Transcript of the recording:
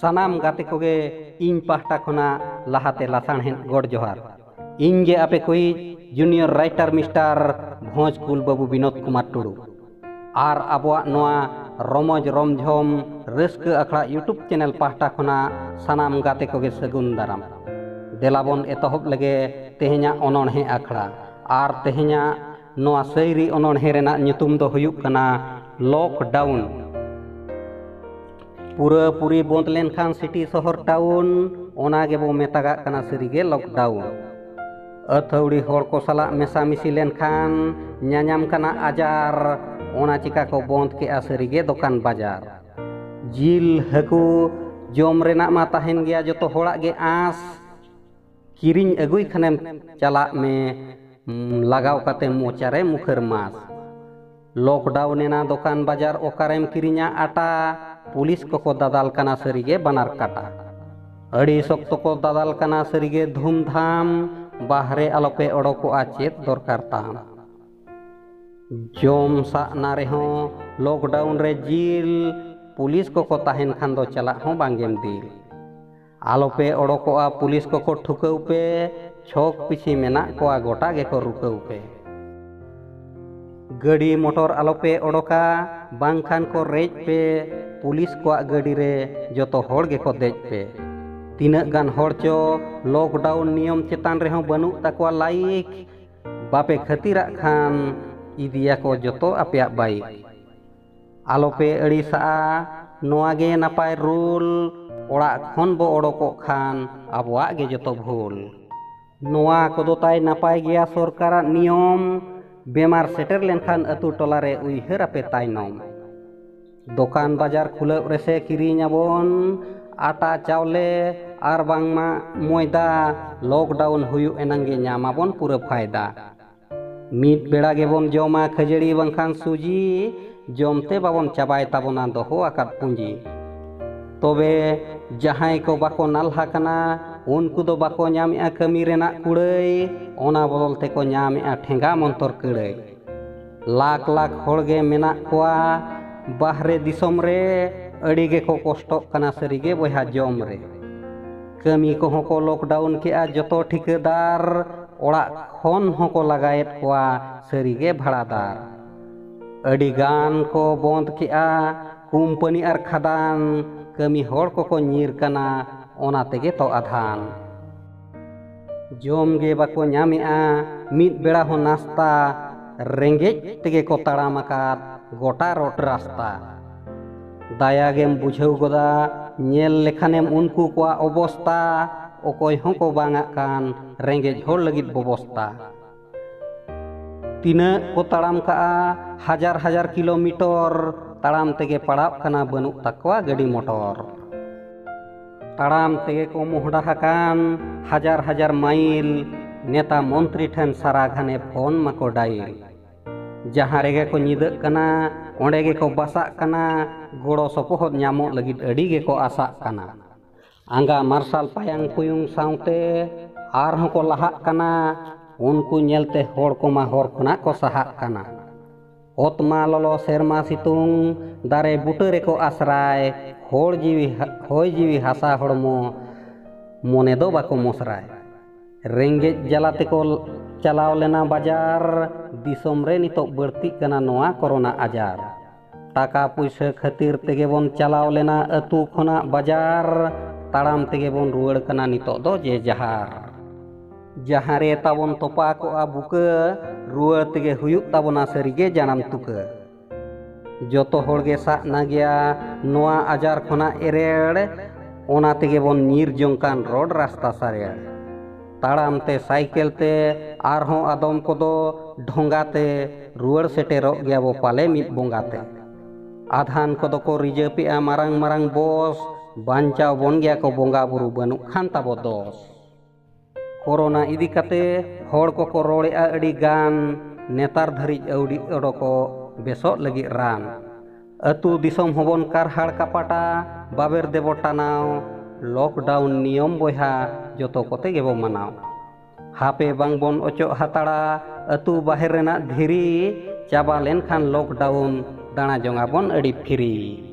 ᱥᱟᱱᱟᱢ ᱜᱟᱛᱮ ᱠᱚᱜᱮ ᱤᱧ ᱯᱟᱦᱴᱟ ᱠᱷᱚᱱᱟᱜ ᱞᱟᱦᱟᱛᱮ ᱞᱟᱥᱟᱬᱦᱮᱫ ᱜᱚᱰ ᱡᱚᱦᱟᱨ ᱤᱧ ᱜᱮ ᱟᱯᱮ ᱠᱚᱭᱤᱡ ᱡᱩᱱᱤᱭᱚᱨ ᱨᱟᱭᱴᱟᱨ ᱢᱤᱥᱴᱟᱨ ᱵᱷᱚᱸᱡᱽ ᱠᱩᱞ ᱵᱟᱹᱵᱩ ᱵᱤᱱᱳᱫ ᱠᱩᱢᱟᱨ ᱴᱩᱰᱩ ᱟᱨ ᱟᱵᱚᱣᱟᱜ ᱱᱚᱣᱟ ᱨᱚᱢᱚᱡᱽ ᱨᱚᱢᱡᱷᱚᱢ ᱨᱟᱹᱥᱠᱟᱹ ᱟᱠᱷᱲᱟ ᱤᱭᱩᱴᱩᱵᱽ ᱪᱮᱱᱮᱞ ᱯᱟᱦᱴᱟ ᱠᱷᱚᱱᱟᱜ ᱥᱟᱱᱟᱢ ᱜᱟᱛᱮ ᱠᱚᱜᱮ ᱥᱟᱹᱜᱩᱱ ᱫᱟᱨᱟᱢ ᱫᱮᱞᱟᱵᱚᱱ ᱮᱛᱚᱦᱚᱵ ᱞᱮᱜᱮ ᱛᱮᱦᱮᱧᱟᱜ ᱚᱱᱚᱬᱦᱮ ᱟᱠᱷᱲᱟ ᱟᱨ ᱛᱮᱦᱮᱧᱟᱜ ᱱᱚᱣᱟ ᱥᱟᱹᱭᱨᱤ ᱚᱱᱚᱬᱦᱮ ᱨᱮᱱᱟᱜ ᱧᱩᱛᱩᱢ ᱫᱚ ᱦᱩᱭᱩᱜ ᱠᱟᱱᱟ ᱞᱚᱠᱰᱟᱣᱩᱱ ᱯᱩᱨᱟᱹ ᱯᱩᱨᱤ ᱵᱚᱸᱫ ᱞᱮᱱᱠᱷᱟᱱ ᱥᱤᱴᱤ ᱥᱚᱦᱚᱨ ᱴᱟᱣᱩᱱ ᱚᱱᱟ ᱜᱮᱵᱚ ᱢᱮᱛᱟᱜᱟᱜ ᱠᱟᱱᱟ ᱥᱟᱹᱨᱤᱜᱮ ᱞᱚᱠᱰᱟᱣᱩᱱ ᱟᱹᱛᱷᱟᱹᱣᱲᱤ ᱦᱚᱲ ᱠᱚ ᱥᱟᱞᱟᱜ ᱢᱮᱥᱟᱢᱤᱥᱤ ᱞᱮᱱᱠᱷᱟᱱ ᱧᱟᱧᱟᱢ ᱠᱟᱱᱟ ᱟᱡᱟᱨ ᱚᱱᱟ ᱪᱤᱠᱟ ᱠᱚ ᱵᱚᱸᱫ ᱠᱮᱜᱼᱟ ᱥᱟᱹᱨᱤᱜᱮ ᱫᱚᱠᱟᱱ ᱵᱟᱡᱟᱨ ᱡᱤᱞ ᱦᱟᱹᱠᱩ ᱡᱚᱢ ᱨᱮᱱᱟᱜ ᱢᱟ ᱛᱟᱦᱮᱱ ᱜᱮᱭᱟ ᱡᱚᱛᱚ ᱦᱚᱲᱟᱜ ᱜᱮ ᱟᱸᱥ ᱠᱤᱨᱤᱧ ᱟᱹᱜᱩᱭ ᱠᱷᱟᱱᱮᱢ ᱪᱟᱞᱟᱜ ᱢᱮ ᱞᱟᱜᱟᱣ ᱠᱟᱛᱮ ᱢᱚᱪᱟᱨᱮ ᱢᱩᱠᱷᱟᱹᱨ ᱢᱟᱥ ᱞᱚᱠᱰᱟᱣᱩᱱ ᱮᱱᱟ ᱫᱚᱠᱟᱱ ᱵᱟᱡᱟᱨ ᱚᱠᱟᱨᱮᱢ ᱠᱤᱨᱤᱧᱟ ᱟᱴᱟ ᱯᱩᱞᱤᱥ ᱠᱚᱠᱚ ᱫᱟᱫᱟᱞ ᱠᱟᱱᱟ ᱥᱟᱹᱨᱤᱜᱮ ᱵᱟᱱᱟᱨ ᱠᱟᱴᱟ ᱟᱹᱰᱤ ᱥᱚᱠᱛᱚ ᱠᱚ ᱫᱟᱫᱟᱞ ᱠᱟᱱᱟ ᱥᱟᱹᱨᱤᱜᱮ ᱫᱷᱩᱢᱫᱷᱟᱢ ᱵᱟᱦᱨᱮ ᱟᱞᱚᱯᱮ ᱚᱰᱚᱠᱚᱜᱼᱟ ᱪᱮᱫ ᱫᱚᱨᱠᱟᱨ ᱛᱟᱢ ᱡᱚᱢ ᱥᱟᱜ ᱱᱟ ᱨᱮᱦᱚᱸ ᱞᱚᱠᱰᱟᱣᱩᱱ ᱨᱮ ᱡᱤᱞ ᱯᱩᱞᱤᱥ ᱠᱚᱠᱚ ᱛᱟᱦᱮᱱ ᱠᱷᱟᱱ ᱫᱚ ᱪᱟᱞᱟᱜ ᱦᱚᱸ ᱵᱟᱝᱜᱮᱢ ᱫᱤᱞ ᱟᱞᱚᱯᱮ ᱚᱰᱚᱠᱚᱜᱼᱟ ᱯᱩᱞᱤᱥ ᱠᱚᱠᱚ ᱴᱷᱩᱠᱟᱹᱣ ᱯᱮ ᱪᱷᱚᱠ ᱯᱤᱪᱷᱤ ᱢᱮᱱᱟᱜ ᱠᱚᱣᱟ ᱜᱚᱴᱟ ᱜᱮᱠᱚ ᱨᱩᱠᱟᱹᱣ ᱯᱮ ᱜᱟᱹᱰᱤ ᱢᱚᱴᱚᱨ ᱟᱞᱚᱯᱮ ᱚᱰᱚᱠᱟ ᱵᱟᱝᱠᱷᱟᱱ ᱠᱚ ᱨᱮᱡ ᱯᱮ ᱯᱩᱞᱤᱥ ᱠᱚᱣᱟᱜ ᱜᱟᱹᱰᱤ ᱨᱮ ᱡᱚᱛᱚ ᱦᱚᱲ ᱜᱮᱠᱚ ᱫᱮᱡ ᱯᱮ ᱛᱤᱱᱟᱹᱜ ᱜᱟᱱ ᱦᱚᱲ ᱪᱚ ᱞᱚᱠᱰᱟᱣᱩᱱ ᱱᱤᱭᱚᱢ ᱪᱮᱛᱟᱱ ᱨᱮᱦᱚᱸ ᱵᱟᱹᱱᱩᱜ ᱛᱟᱠᱚᱣᱟ ᱞᱟᱭᱤᱠ ᱵᱟᱯᱮ ᱠᱷᱟᱹᱛᱤᱨᱟᱜ ᱠᱷᱟᱱ ᱤᱫᱤᱭᱟᱠᱚ ᱡᱚᱛᱚ ᱟᱯᱮᱭᱟᱜ ᱵᱟᱭᱤᱠ ᱟᱞᱚᱯᱮ ᱟᱹᱲᱤᱥᱟᱜᱼᱟ ᱱᱚᱣᱟ ᱜᱮ ᱱᱟᱯᱟᱭ ᱨᱩᱞ ᱚᱲᱟᱜ ᱠᱷᱚᱱ ᱵᱚ ᱚᱰᱚᱠᱚᱜ ᱠᱷᱟᱱ ᱟᱵᱚᱣᱟᱜ ᱜᱮ ᱡᱚᱛᱚ ᱵᱷᱩᱞ ᱱᱚᱣᱟ ᱠᱚᱫᱚ ᱛᱟᱭ ᱱᱟᱯᱟᱭ ᱜᱮᱭᱟ ᱥᱚᱨᱠᱟᱨᱟᱜ ᱱᱤᱭᱚᱢ ᱵᱮᱢᱟᱨ ᱥᱮᱴᱮᱨ ᱞᱮᱱᱠᱷᱟᱱ ᱟᱹᱛᱩ ᱴᱚᱞᱟ ᱨᱮ ᱩᱭᱦᱟᱹᱨ ᱟᱯᱮ ᱛᱟᱭᱱᱚᱢ ᱫᱚᱠᱟᱱ ᱵᱟᱡᱟᱨ ᱠᱷᱩᱞᱟᱹᱣ ᱨᱮᱥᱮ ᱠᱤᱨᱤᱧ ᱟᱵᱚᱱ ᱟᱴᱟ ᱪᱟᱣᱞᱮ ᱟᱨ ᱵᱟᱝᱢᱟ ᱢᱚᱭᱫᱟ ᱞᱚᱠᱰᱟᱣᱩᱱ ᱦᱩᱭᱩᱜ ᱮᱱᱟᱝ ᱜᱮ ᱧᱟᱢ ᱟᱵᱚᱱ ᱯᱩᱨᱟᱹ ᱯᱷᱟᱭᱫᱟ ᱢᱤᱫ ᱵᱮᱲᱟ ᱜᱮᱵᱚᱱ ᱡᱚᱢᱟ ᱠᱷᱟᱹᱡᱟᱹᱲᱤ ᱵᱟᱝᱠᱷᱟᱱ ᱥᱩᱡᱤ ᱡᱚᱢᱛᱮ ᱵᱟᱵᱚᱱ ᱪᱟᱵᱟᱭ ᱛᱟᱵᱚᱱᱟ ᱫᱚᱦᱚ ᱟᱠᱟᱫ ᱯᱩᱸᱡᱤ ᱛᱚᱵᱮ ᱡᱟᱦᱟᱸᱭ ᱠᱚ ᱵᱟᱠᱚ ᱱᱟᱞᱦᱟ ᱠᱟᱱᱟ ᱩᱱᱠᱩ ᱫᱚ ᱵᱟᱠᱚ ᱧᱟᱢᱮᱜᱼᱟ ᱠᱟᱹᱢᱤ ᱨᱮᱱᱟᱜ ᱠᱩᱲᱟᱹᱭ ᱚᱱᱟ ᱵᱚᱫᱚᱞ ᱛᱮᱠᱚ ᱧᱟᱢᱮᱜᱼᱟ ᱴᱷᱮᱸᱜᱟ ᱢᱚᱱᱛᱚᱨ ᱠᱟᱹᱲᱟᱹᱭ ᱞᱟᱠᱷ ᱞᱟᱠᱷ ᱦᱚᱲᱜᱮ ᱢᱮᱱᱟᱜ ᱠᱚᱣᱟ ᱵᱟᱦᱨᱮ ᱫᱤᱥᱚᱢ ᱨᱮ ᱟᱹᱰᱤ ᱜᱮᱠᱚ ᱠᱚᱥᱴᱚᱜ ᱠᱟᱱᱟ ᱥᱟᱹᱨᱤᱜᱮ ᱵᱚᱭᱦᱟ ᱡᱚᱢ ᱨᱮ ᱠᱟᱹᱢᱤ ᱠᱚᱦᱚᱸ ᱠᱚ ᱞᱚᱠᱰᱟᱣᱩᱱ ᱠᱮᱜᱼᱟ ᱡᱚᱛᱚ ᱴᱷᱤᱠᱟᱹᱫᱟᱨ ᱚᱲᱟᱜ ᱠᱷᱚᱱ ᱦᱚᱸᱠᱚ ᱞᱟᱜᱟᱭᱮᱫ ᱠᱚᱣᱟ ᱥᱟᱹᱨᱤᱜᱮ ᱵᱷᱟᱲᱟᱫᱟᱨ ᱟᱹᱰᱤ ᱜᱟᱱ ᱠᱚ ᱵᱚᱸᱫᱽ ᱠᱮᱜᱼᱟ ᱠᱩᱢᱯᱟᱹᱱᱤ ᱟᱨ ᱠᱷᱟᱫᱟᱱ ᱠᱟᱹᱢᱤ ᱦᱚᱲ ᱠᱚᱠᱚ ᱧᱤᱨ ᱠᱟᱱᱟ ᱚᱱᱟ ᱛᱮᱜᱮ ᱛᱚ ᱟᱫᱷᱟᱱ ᱡᱚᱢ ᱜᱮ ᱵᱟᱠᱚ ᱧᱟᱢᱮᱜᱼᱟ ᱢᱤᱫ ᱵᱮᱲᱟ ᱦᱚᱸ ᱱᱟᱥᱛᱟ ᱨᱮᱸᱜᱮᱡ ᱛᱮᱜᱮ ᱠᱚ ᱛᱟᱲᱟᱢ ᱟᱠᱟᱫ ᱜᱚᱴᱟ ᱨᱳᱰ ᱨᱟᱥᱛᱟ ᱫᱟᱭᱟ ᱜᱮᱢ ᱵᱩᱡᱷᱟᱹᱣ ᱜᱚᱫᱟ ᱧᱮᱞ ᱞᱮᱠᱷᱟᱱᱮᱢ ᱩᱱᱠᱩ ᱠᱚᱣᱟᱜ ᱚᱵᱚᱥᱛᱟ ᱚᱠᱚᱭ ᱦᱚᱸᱠᱚ ᱵᱟᱝᱟᱜ ᱠᱟᱱ ᱨᱮᱸᱜᱮᱡ ᱦᱚᱲ ᱞᱟᱹᱜᱤᱫ ᱵᱚᱵᱚᱥᱛᱟ ᱛᱤᱱᱟᱹᱜ ᱠᱚ ᱛᱟᱲᱟᱢ ᱠᱟᱜᱼᱟ ᱦᱟᱡᱟᱨ ᱦᱟᱡᱟᱨ ᱠᱤᱞᱳᱢᱤᱴᱚᱨ ᱛᱟᱲᱟᱢ ᱛᱮᱜᱮ ᱯᱟᱲᱟᱜ ᱠᱟᱱᱟ ᱵᱟᱹᱱᱩᱜ ᱛᱟᱠᱚᱣᱟ ᱜᱟᱹᱰᱤ ᱢᱚᱴᱚᱨ ᱛᱟᱲᱟᱢ ᱛᱮᱜᱮ ᱠᱚ ᱢᱚᱦᱰᱟ ᱟᱠᱟᱱ ᱦᱟᱡᱟᱨ ᱦᱟᱡᱟᱨ ᱢᱟᱭᱤᱞ ᱱᱮᱛᱟ ᱢᱚᱱᱛᱨᱤ ᱴᱷᱮᱱ ᱥᱟᱨᱟ ᱜᱷᱟᱱᱮ ᱯᱷᱳᱱ ᱢᱟᱠᱚ ᱰᱟᱭᱤᱞ ᱡᱟᱦᱟᱸ ᱨᱮᱜᱮ ᱠᱚ ᱧᱤᱫᱟᱹᱜ ᱠᱟᱱᱟ ᱚᱸᱰᱮ ᱜᱮᱠᱚ ᱵᱟᱥᱟᱜ ᱠᱟᱱᱟ ᱜᱚᱲᱚ ᱥᱚᱯᱚᱦᱚᱫ ᱧᱟᱢᱚᱜ ᱞᱟᱹᱜᱤᱫ ᱟᱹᱰᱤ ᱜᱮᱠᱚ ᱟᱥᱟᱜ ᱠᱟᱱᱟ ᱟᱸᱜᱟ ᱢᱟᱨᱥᱟᱞ ᱯᱟᱭᱟᱝ ᱯᱩᱭᱩᱝ ᱥᱟᱶᱛᱮ ᱟᱨᱦᱚᱸ ᱠᱚ ᱞᱟᱦᱟᱜ ᱠᱟᱱᱟ ᱩᱱᱠᱩ ᱧᱮᱞᱛᱮ ᱦᱚᱲ ᱠᱚᱢᱟ ᱦᱚᱨ ᱠᱷᱚᱱᱟᱜ ᱠᱚ ᱥᱟᱦᱟᱜ ᱠᱟᱱᱟ ᱚᱛ ᱢᱟ ᱞᱚᱞᱚ ᱥᱮᱨᱢᱟ ᱥᱤᱛᱩᱝ ᱫᱟᱨᱮ ᱵᱩᱴᱟᱹ ᱨᱮᱠᱚ ᱟᱥᱨᱟᱭ ᱦᱚᱲ ᱡᱤᱣᱤ ᱦᱚᱭ ᱡᱤᱣᱤ ᱦᱟᱥᱟ ᱦᱚᱲᱢᱚ ᱢᱚᱱᱮ ᱫᱚ ᱵᱟᱠᱚ ᱢᱚᱥᱨᱟᱭ ᱨᱮᱸᱜᱮᱡ ᱡᱟᱞᱟ ᱛᱮᱠᱚ ᱪᱟᱞᱟᱣ ᱞᱮᱱᱟ ᱵᱟᱡᱟᱨ ᱫᱤᱥᱚᱢ ᱨᱮ ᱱᱤᱛᱚᱜ ᱵᱟᱹᱲᱛᱤᱜ ᱠᱟᱱᱟ ᱱᱚᱣᱟ ᱠᱚᱨᱳᱱᱟ ᱟᱡᱟᱨ ᱴᱟᱠᱟ ᱯᱩᱭᱥᱟᱹ ᱠᱷᱟᱹᱛᱤᱨ ᱛᱮᱜᱮ ᱵᱚᱱ ᱪᱟᱞᱟᱣ ᱞᱮᱱᱟ ᱟᱹᱛᱩ ᱠᱷᱚᱱᱟᱜ ᱵᱟᱡᱟᱨ ᱛᱟᱲᱟᱢ ᱛᱮᱜᱮ ᱵᱚᱱ ᱨᱩᱣᱟᱹᱲ ᱠᱟᱱᱟ ᱱᱤᱛᱚᱜ ᱫᱚ ᱡᱮ ᱡᱟᱦᱟᱨ ᱡᱟᱦᱟᱸ ᱨᱮ ᱛᱟᱵᱚᱱ ᱛᱚᱯᱟ ᱠᱚᱜᱼᱟ ᱵᱩᱠᱟᱹ ᱨᱩᱣᱟᱹᱲ ᱛᱮᱜᱮ ᱦᱩᱭᱩᱜ ᱛᱟᱵᱚᱱᱟ ᱥᱟᱹᱨᱤᱜᱮ ᱡᱟᱱᱟᱢ ᱛᱩᱠᱟᱹ ᱡᱚᱛᱚ ᱦᱚᱲ ᱜᱮ ᱥᱟᱵ ᱱᱟ ᱜᱮᱭᱟ ᱱᱚᱣᱟ ᱟᱡᱟᱨ ᱠᱷᱚᱱᱟᱜ ᱮᱨᱮᱲ ᱚᱱᱟ ᱛᱮᱜᱮ ᱵᱚᱱ ᱧᱤᱨ ᱡᱚᱝ ᱠᱟᱱ ᱨᱚᱰ ᱨᱟᱥᱛᱟ ᱥᱟᱨᱮᱲ ᱛᱟᱲᱟᱢ ᱛᱮ ᱥᱟᱭᱠᱮᱞ ᱛᱮ ᱟᱨᱦᱚᱸ ᱟᱫᱚᱢ ᱠᱚᱫᱚ ᱰᱷᱚᱸᱜᱟ ᱛᱮ ᱨᱩᱣᱟᱹᱲ ᱥᱮᱴᱮᱨᱚᱜ ᱜᱮᱭᱟ ᱵᱚ ᱯᱟᱞᱮ ᱢᱤᱫ ᱵᱚᱸᱜᱟ ᱛᱮ ᱟᱫᱷᱟᱱ ᱠᱚᱫᱚ ᱠᱚ ᱨᱤᱡᱟᱹᱯᱮᱜᱼᱟ ᱢᱟᱨᱟᱝ ᱢᱟᱨᱟᱝ ᱵᱚᱥ ᱵᱟᱧᱪᱟᱣ ᱵᱚᱱ ᱜᱮᱭᱟ ᱠᱚ ᱵᱚᱸᱜᱟ ᱵᱩᱨᱩ ᱵᱟᱹᱱᱩᱜ ᱠᱷᱟᱱ ᱛᱟᱵᱚ ᱫᱚᱥ ᱠᱚᱨᱳᱱᱟ ᱤᱫᱤ ᱠᱟᱛᱮ ᱦᱚᱲ ᱠᱚᱠᱚ ᱨᱚᱲᱮᱫᱼᱟ ᱟᱹᱰᱤ ᱜᱟᱱ ᱱᱮᱛᱟᱨ ᱫᱷᱟᱹᱨᱤᱡ ᱟᱹᱣᱰᱤ ᱚᱰᱚᱠᱚᱜ ᱵᱮᱥᱚᱜ ᱞᱟᱹᱜᱤᱫ ᱨᱟᱱ ᱟᱹᱛᱩ ᱫᱤᱥᱚᱢ ᱦᱚᱸᱵᱚᱱ ᱠᱟᱨᱦᱟᱲ ᱠᱟᱯᱟᱴᱟ ᱵᱟᱵᱮᱨ ᱫᱮᱵᱚ ᱴᱟᱱᱟᱣ ᱞᱚᱠᱰᱟᱣᱩᱱ ᱱᱤᱭᱚᱢ ᱵᱚᱭᱦᱟ ᱡᱚᱛᱚ ᱠᱚᱛᱮ ᱜᱮᱵᱚ ᱢᱟᱱᱟᱣ ᱦᱟᱯᱮ ᱵᱟᱝ ᱵᱚᱱ ᱚᱪᱚᱜ ᱦᱟᱛᱟᱲᱟ ᱟᱹᱛᱩ ᱵᱟᱦᱮᱨ ᱨᱮᱱᱟᱜ ᱫᱷᱤᱨᱤ ᱪᱟᱵᱟ ᱞᱮᱱᱠᱷᱟᱱ ᱞᱚᱠᱰᱟᱣᱩᱱ ᱫᱟᱬᱟ ᱡᱚᱝᱟᱵᱚᱱ ᱟᱹᱰᱤ ᱯᱷᱤᱨᱤ